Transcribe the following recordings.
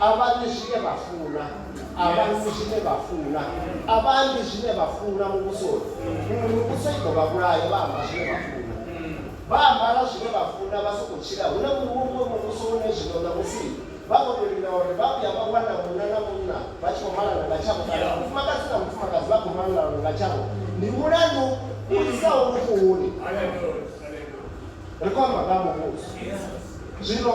a vha ḽi zwine vha funa, a vha nwi zwine vha funa, a vha ambi zwine vha funa muvhusoni, huṅwe mivhuso i ḓo vha vhulaya vha amba zwine vha funa. Vha ambara zwine vha funa vha sokou tshila, hu na muṅwe muvhuso une zwino ṋamusi vha khou tou lila uri vha vhuya vha wana munna na munna vha tshi khou malana nga tshavho kana mufumakadzi na mufumakadzi vha khou malana nga tshavho. Ndi mulandu u lisaho lufuni! Ri khou amba nga ha Muvhuso zwino.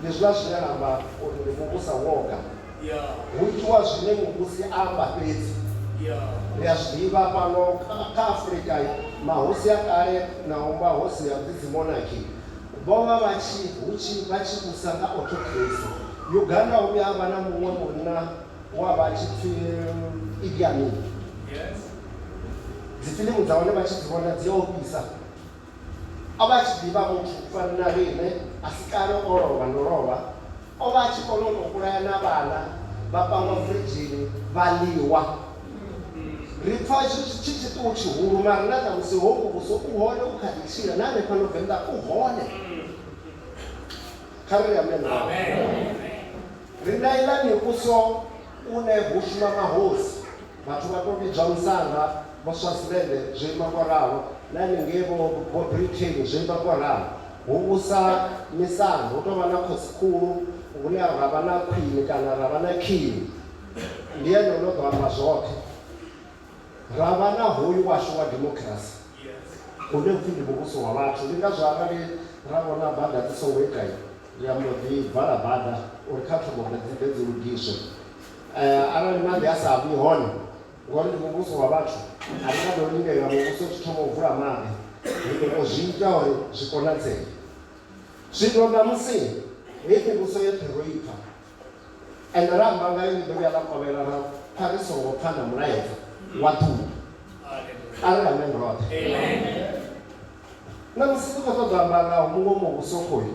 Ndi zwiḽa zwine ra amba uri ndi muvhusa woga. Hu itiwa zwine muvhusi a amba fhedzi. Ri a zwi ḓivha fhano kha Afrika, mahosi a kale na u mba hosi ya dzi monarchy, vho vha vha tshi hu tshi vha tshi vhusa nga autocracy. Uganda ho vhuya ha vha na muṅwe munna we a vha a tshi pfi Idi Amin. Dzifilimu dza hone vha tshi dzi vhona dzi a ofhisa. O vha a tshi ḓivha muthu u fana na riṋe, a si kale o lovha no lovha. O vha a tshi kona u tou vhulaya na vhana, vha pangwa firidzhini vha ḽiwa. Ri pfa itsho tshi tshi tshiṱuhu tshihulu, mara na ṋamusi hoyu Muvhuso u hone, u kha ḓi tshila, na hanefha no Venḓa u hone. Kha ri ri amen vhaṅwe. Ri na iḽa Mivhuso une hu shuma mahosi. Vhathu vha tou vhidzwa musanda, Vho Swaziland zwo ima ngo ralo, na henengei vho vho Britain zwo ima ngo ralo. Hu vhusa misanda, hu tou vha na khosi-khulu, hune ra vha na khwini kana ra vha na king. Ndi ene o no ḓo amba zwoṱhe. Ra vha na hoyu washu wa democracy une u pfi ndi muvhuso wa vhathu. Ndi ngazwo arali ra vhona bada dzi songo ita, ri a mbo ḓi vala bada uri kha thome u ḓe dzi ḓe dzi lugiswe. Eh, arali maḓi a sa bvi hone ngori ndi muvhuso wa vhathu a ri nga ḓo lindela muvhuso tshi thoma u vula maḓi ri ḓo tou zwi ita uri zwi konadzee zwino ṋamusi heyi mivhuso yoṱhe ro i pfa ende ra amba ngayo ni ḓo vhuya ḽa kovhela ra pfa ri songo pfa na mulaedza wa ḓuvha a ri amen roṱhe ṋamusi ri khou ṱoḓa amba ngaho muṅwe muvhuso khoyu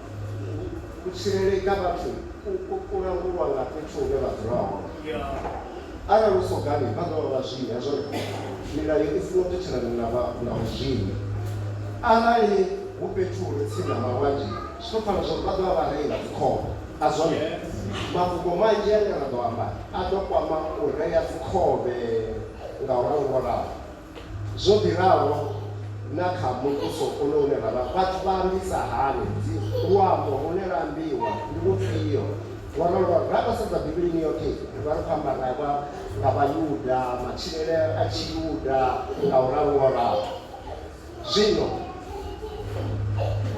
Kutshireledza vhathu ku langulwa nga fhethu hune vha dzula hone. Arali hu sogani vha ḓovha vha zwivhi zwone milayo i songo tetshelana na vha na vhu zwivhi. Arali hu fhethu hure tsini na malwanzhe zwi to pfala zwori vha ḓovha vhareyi vha dzi khovhe a zwone? Mafhungo manzhi ane ra ḓo amba a ḓo kwama u reya dzi khovhe nga u rangolaho. Zwo ḓi ralo na kha muvhuso uno une ra vha, vhathu vha ambisa hani? Dzi, luambo lune lwa ambiwa ndi lufhio? Ngo ralo, ngo ralo. Ra khou sedza Bivhilini yoṱhe, ri vha ri khou amba nga, nga, nga Vhayuda, matshilele a Tshiyuda, nga u ralo, nga u ralo. Zwino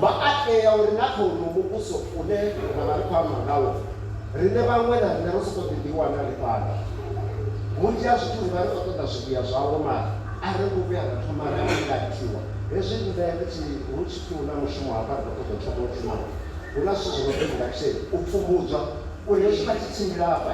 vha a tea uri na kha uno muvhuso une ra vha ri khou amba ngawo, riṋe vhaṅwe na riṋe ro sokou ḓi ḓiwana ri fhano. Vhunzhi ha zwithu ri vha ri khou ṱoḓa zwivhuya zwawo mara a ri ngo vhuya ra thoma ra ingathiwa. Hezwi riṋe ri tshi, hu tshi pfi hu na mushumo hafha ri khou ṱoḓa u thoma u shuma, hu na zwithu zwo no pfi induction, u pfumbudzwa uri hezwi vha tshi tshimbila hafha,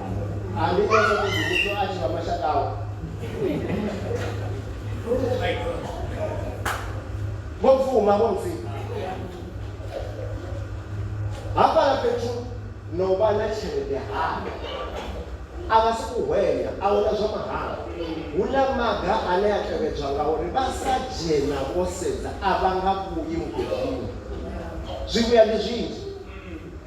vhofuma vho mfi hafhala fhethu na u vha na tshelede hana a vha si ku hwenya a huna zwa mahala hu na maga ane a tevhedzwa nga uri vha sa dzhena vho sedza a vha nga vhuyi mugedini zwivhuya ndi zwinzhi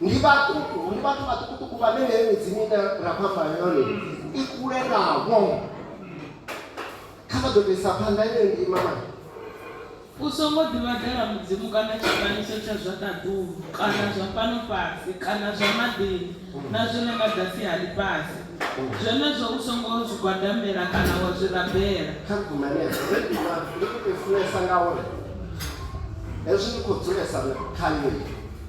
ndi vhaṱuku ndi vhathu vhaṱukuṱuku vhane heyo midzimu ine ra khou amba yone i kule navho kha vha ḓo tou isa phanḓa yeyo ndima mani U songo ḓivhadela mudzimu kana tshifanyiso tsha zwa ṱaḓulu kana zwa fhano fhasi kana zwa maḓini na zwi re nga ḓasi ha ḽifhasi. Zwenezwo u songo zwi gwadamela kana wa zwi rabela. Kha ri gume henefho. Heyi ndima ndi khou tou i funesa ngauri hezwi ndi khou dzulesa khayo.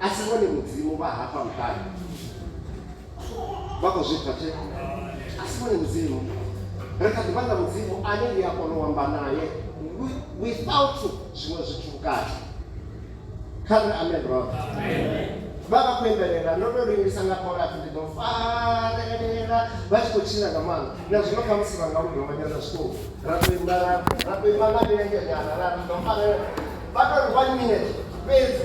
a si vhone mudzimu vha hafha muṱani vha khou zwi pfa tshee a si vhone mudzimu ri kha ḓi vha na mudzimu ane ndi a kona u amba naye without zwiṅwe zwithu vhukati kha ri amen brother vha vha khou imbelela ndo tou lingisa nga khorathi ndi ḓo farelela vha tshi khou tshina nga maanḓa na zwino kha musi vha nga ludonganyana zwiṱuku ra ḓo imba ra ḓo imba nga milenzhenyana ra ḓo farelela vha tou ri one minute fhedzi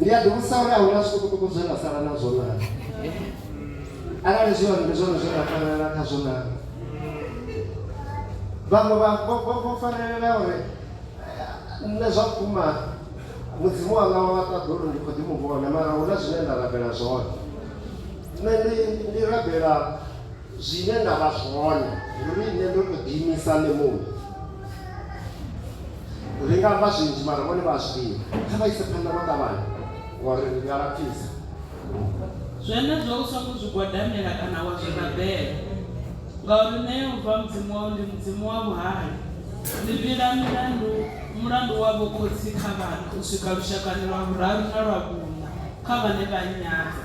ndi a ḓivhudzisa uri a huna zwiṱukuṱuku zwe nda sala nazwo naa arali zwi hone ndi zwone zwe nda farelela khazwo naa vhaṅwe vho farelela uri nṋe zwa vhukuma mudzimu wanga wa ṱaḓulu ndi kho ḓi mu vhona mara hu na zwine nda rabela zwone nṋe ndi rabela Zwine nda vha zwone ndi uri nṋe ndo tou ḓiimisa nṋe muṋe. Ri nga amba zwinzhi mara vhone vha a zwi ḓivha. Kha vha ise phanḓa vho ṱavhanya ngori ri a lapfisa. Zwenezwo u songo zwi gwadamela kana wa zwi rabela, ngauri Nṋe Yehova Mudzimu wau ndi Mudzimu wa vhuhali. Ndi vhila milandu, mulandu wa vhokhotsi kha vhana u swika lushakani lwa vhuraru na lwa vhuṋa kha vhane vha nnyadza.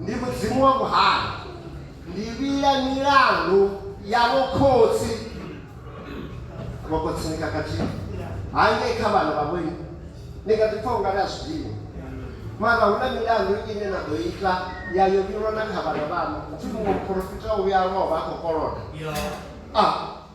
ndi mudzimu wa vhuhali ndi vhila milandu ya vhokhotsi vhokhotsini kakati hangei kha vhana vha vhoini ni nga ḓi pfha u nga ri a zwiḓivhi mara hu na milandu ine na ḓo ita ya yo vhilwa na kha vhana vhanu upfhi muṅwe muporofita o vhuya a lovha a khou koloda a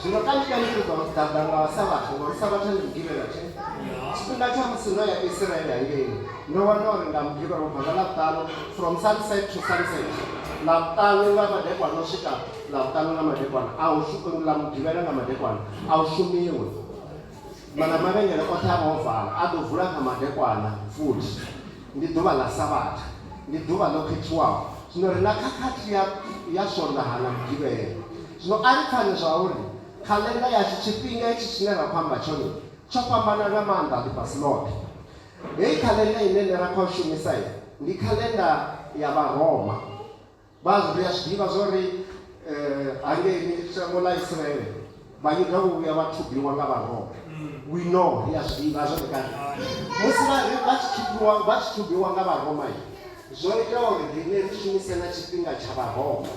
Zwino kanzhi kanzhi ri ḓo ḓaḓa nga Savhatha, ngori Savhatha ndi Mugivhela tshe. Tshifhinga tsha musi ndo ya Isiraele hangei, ndo wana uri nga Mugivhela u bva nga Ḽavhuṱanu, from sunset to sunset, Ḽavhuṱanu nga madekwana u swika Ḽavhuṱanu nga madekwana, a hu shu, nga Mugivhela nga madekwana, a hu shumiwi. Mana mavhengele oṱhe a vha o vala a ḓo vula nga madekwana futhi. Ndi ḓuvha ḽa Savhatha, ndi ḓuvha ḽo khethiwaho. Zwino ri na khakhathi ya, ya Swondaha na Mugivhela. Zwino a ri pfani zwauri khaḽenda yashu, tshifhinga hetshi tshine ra khou amba tshone, tsho fhambana nga maanḓa ḽifhasi ḽoṱhe. Heyi khaḽenda ine nṋe ra khou shumisa, ndi khaḽenda ya Vharoma. Vhazwo ri a zwi ḓivha zwa uri hangei shango ḽa Israele Vhayuda vho vhuya vha thubiwa nga Vharoma. We know, ri a zwi ḓivha zwone kale. Musi vha ri vha tshi thubiwa, vha tshi thubiwa nga Vharoma, zwo ita uri riṋe ri shumise na tshifhinga tsha Vharoma.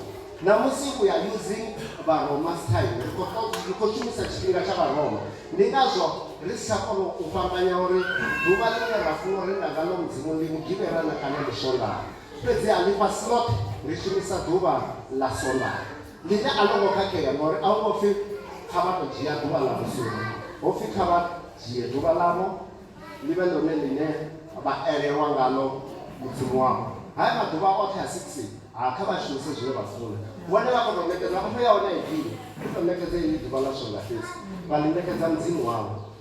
Ṋamusi we are using Vharoma's time, ri khou ṱo, ri khou shumisa tshifhinga tsha Vharoma. Ndi ngazwo ri si tsha kona u fhambanya uri ḓuvha ḽine ra funa u renda ngaḽo Mudzimu ndi Mugivhela na kana ndi Swondaha. Fhedziha ḽifhasi ḽoṱhe ḽi shumisa ḓuvha ḽa Swondaha, ḽine a ḽo ngo khakhea, ngauri a hu ngo pfi, Kha vha tou dzhia ḓuvha ḽa vhusumbe. Ho pfi, Kha vha dzhie ḓuvha ḽavho ḽi vhe ḽone ḽine vha elelwa ngaḽo Mudzimu wavho. Haya maḓuvha oṱhe a six, ha, kha vha a shumise zwine vha funa. Vhone vha khou tou ṋekedza, mpho ya hone a i dini, hu tou ṋekedzwa iḽi ḓuvha ḽa Swondaha fhedzi, vha ḽi ṋekedza Mudzimu wavho.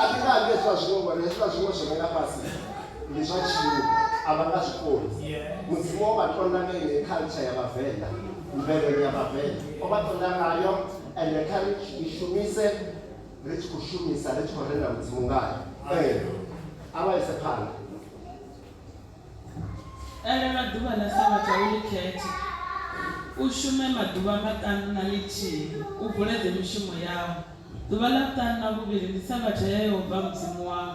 a thi nga nge zwa zwiṅwe ngori hezwiḽa zwiṅwe zwo mela fhasi ndi zwa tshimu a vha nga zwikoni mudzimu o vha tonda nga ine culture ya vhavenḓa mvelele ya vhavenḓa o vha tonda ngayo ende kha ri i shumise ri tshi khou shumisa ri tshi khou renda mudzimu ngayo ee a vha ise phanḓa Elelwa ḓuvha ḽa Sabatha u ḽi khethe, u shume maḓuvha maṱanu na ḽithihi, u bvuledze mishumo yau. Ḓuvha ḽa vhuṱanu na vhuvhili ndi Sabatha ya Yehova Mudzimu wau,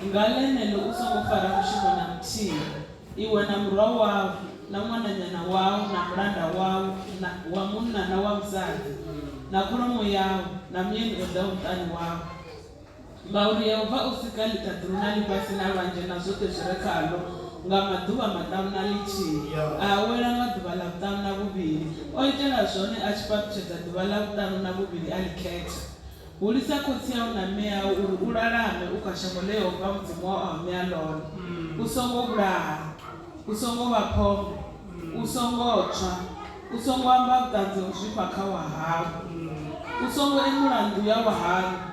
nga ḽeneḽo u songo fara mushumo na muthihi, iwe na murwa wau na ṅwananyana wau na mulanda wau wa munna na wa musadzi na kholomo yau na muyeni o ḓaho muṱani wau. Ngauri Yehova o sika ḽiṱaḓulu na ḽifhasi na lwanzhe na zwoṱhe zwi re khaḽo nga maḓuvha maṱanu na ḽithihi, a awela nga ḓuvha ḽa vhuṱanu na vhuvhili. O itela zwone a tshi fhaṱutshedza ḓuvha ḽa vhuṱanu na vhuvhili a ḽi khetha. Hulisa khotsi au na mme au uri u lalame u kha shango ḽe Yehova Mudzimu wau a u ṋea ḽone. U songo vhulaha. U songo vha phongo. U songo tswa. U songo amba vhuṱanzi ha u zwifha kha wahau. U songo emula nnḓu ya wahanu.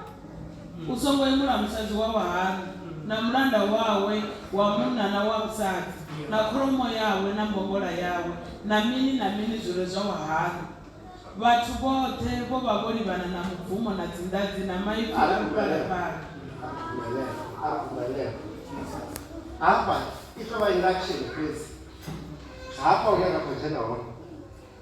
U songo yemula musadzi wa vhahali, na mulanda wawe wa munna na wa musadzi, na kholomo yawe na mbongola yawe, na mini na mini zwi re zwa vhahali. Vhathu vhoṱhe vho vha vho livhana na mubvumo na dzinḓadzi na maipfi a luphalaphala. Hafha i tou vha i nga action fhedzi hafha hune ra khou dzhena hone.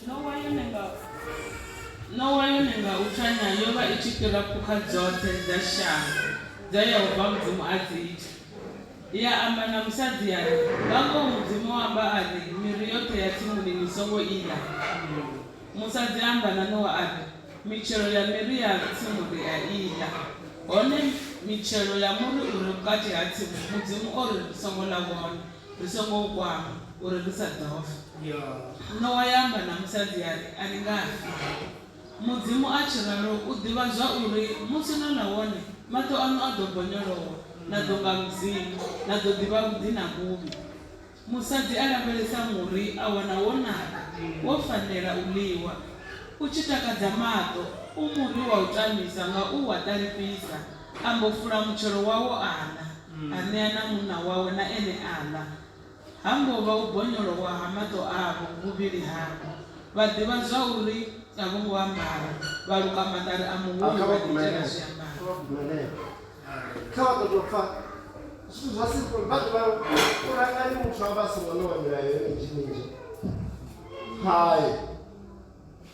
Nowa yone nga Nowa yone nga u tanya yo vha i tshi fhira phukha dzoṱhe dza shango dza Yehova Mudzimu a dzi ita. Ya amba na musadzi ya ri, Nga ngoho Mudzimu o amba a ri, Miri yoṱhe ya tsimuni ni songo i ḽa. Musadzi a amba na Nowa a ri, Mitshelo ya miri ya tsimu ri a i ḽa, hone mitshelo ya muri u re vhukati ha tsimu Mudzimu o ri ri songo ḽa wone. Ri songo u kwama uri ri sa ḓo fa. Nowa ya amba na musadzi ya ri, A ni nga fi. Mudzimu a tshi ralo u ḓivha zwa uri musi no ḽa wone, maṱo aṋu a ḓo bonyolowa, na ḓo nga Mudzimu, na ḓo ḓivha vhuḓi na vhuvhi. Musadzi a lavhelesa muri a wana wo naka, wo fanela u ḽiwa. U tshi takadza maṱo, u muri wa u tamisa nga u wa ṱalifhisa, a mbo fula mutshelo wawo a ḽa. a ṋea na munna wawe na ene a ḽa. Ha mbo vha u bonyolowa ha maṱo avho vhuvhili havho, vha ḓivha zwauri a vho ngo ambara, vha luka maṱari a muhulu vha ḓiitela zwiambaro.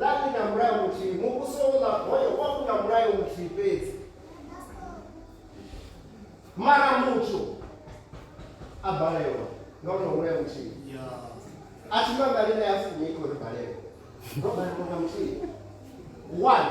Ḽa ḽi na mulayo muthihi, Muvhuso wo ḽa hoyo wa u na mulayo muthihi fhedzi. Mara muthu a balelwa nga u na mulayo muthihi. A thi mangale na ya fumi i khou ri balelwa. Ro balelwa nga muthihi. One.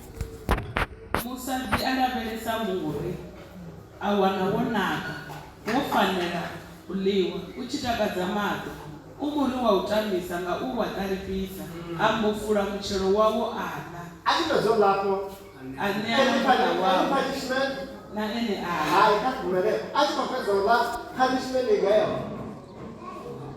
Musadzi a lavhelesa muri, a wana wo naka, wo fanela u ḽiwa, u tshi takadza maṱo. U muri wa u tamisa, nga u wa ṱalifhisa, a mbofula mutshelo wawo a ḽa. A tshi fhedza u ḽa afho, a ṋea na muṱa wawe, na ene a ḽa.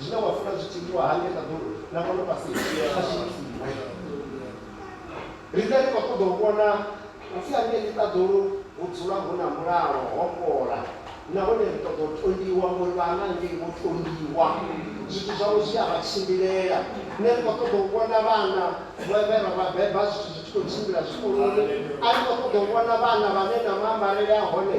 zwine wa funa zwi tshi itiwa hangei ṱaḓulu na fhano fhasini a zwi itiwe ri ḓe ri khou ṱoḓa u vhona upfi hangei ṱaḓulu hu dzula hu na mulalo ho fhola nahone ri ṱoḓa u tondiwa ngori vhana ngei vho tondiwa zwithu zwavho zwi a vha tshimbilela ne ri khou ṱoḓa u vhona vhana vhe ra vha beba zwithu zwi tshi khou tshimbila zwikoloni a ri khou ṱoḓa u vhona vhana vhane na maambarele a hone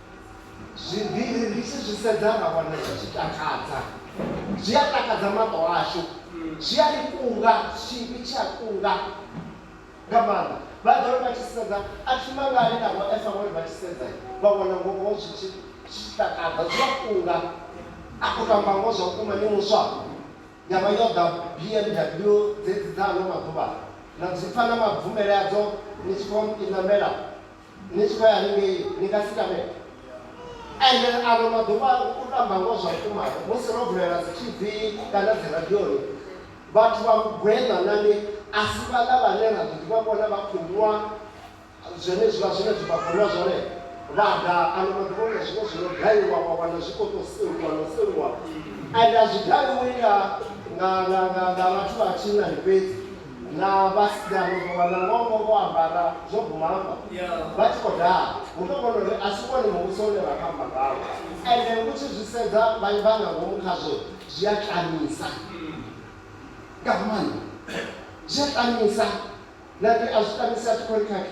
Zwivhili ri tshi zwi sedza ra wana zwi tshi takadza. Zwi a takadza maṱo ashu, zwi a ri kunga, tshivhi tshi a kunga nga maanḓa. Vha ḓo ri vha tshi sedza, a thi mangali na Vho Esa vho ri vha tshi sedza vha wana ngoho zwi tshi takadza, zwi a kunga. A khou tou amba ngoho zwa vhukuma, ni muswa ya vha yo ḓa BMW dzedzi dza ano maḓuvha, na dzi pfa na mabvumele adzo ni tshi khou i ṋamela. ni tshi khou ya haningei ni nga si tame ende ano maḓuvha u tamba ngo zwa vhukuma musi ro vulela dzi tv kana dzi radioni vhathu vha mugweṋa nani a si vhaḽa vhane ra ḓo ḓivha vhona vha khou nwa zwenezwiḽa zwine zwi vha khou nwa zwone vha ḓa ano maḓuvha na zwiṅwe zwi no gayiwa wa wana zwi khou tou seluwa no seluwa ende a zwi gayiwi nga nga nga nga nga vhathu vha tshinnani fhedzi Na vhasidzana vho wana ngoho vho ambara zwo guma hafha vha tshi khou daha, hu tou vhona uri a si wone Muvhuso une ra khou amba ngawo. Ende u tshi zwi sedza vha nga ngomu khazwo zwi a tamisa nga maanḓa, zwi a tamisa. Nda ri a zwi tamisi, a thi khou ri khakha.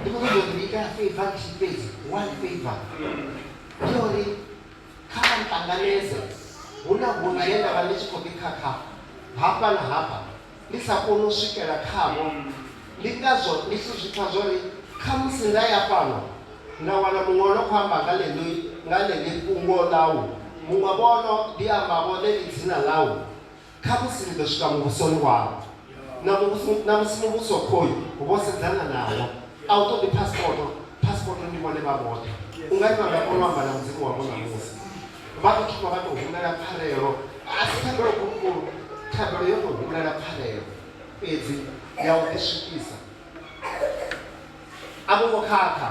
ndi kuti ndondiika feiva ndishipedzi one feiva ndiyori kana ntanganedza huna hunhu ye ndava ndi tshi khou ḓi khakha hafha na hafha ndi sa koni u swikela khavho ndi ngazwo ndi tshi zwi pfa zwori khamusi nda ya fhano nda wana muṅwe o no khou amba nga ḽeḽi nga ḽeḽi fhungo ḽau muṅwe vhono ḓi ambavho ḽeḽi dzina ḽau Khamusi ni ḓo swika muvhusoni wau na muvhuso, na musi muvhuso khoyu vho sedzana nawo. A u ṱoḓi phasipoto, phasipoto ndi vhone vha vhoṱhe. U nga ri vha nga kona u amba na Mudzimu wavho ṋamusi. Vha ḓo thoma vha tou humbela pfarelo, a si thabelo khulukhulu, thabelo yo tou humbela pfarelo fhedzi ya u ḓiswikisa. A vho ngo khakha.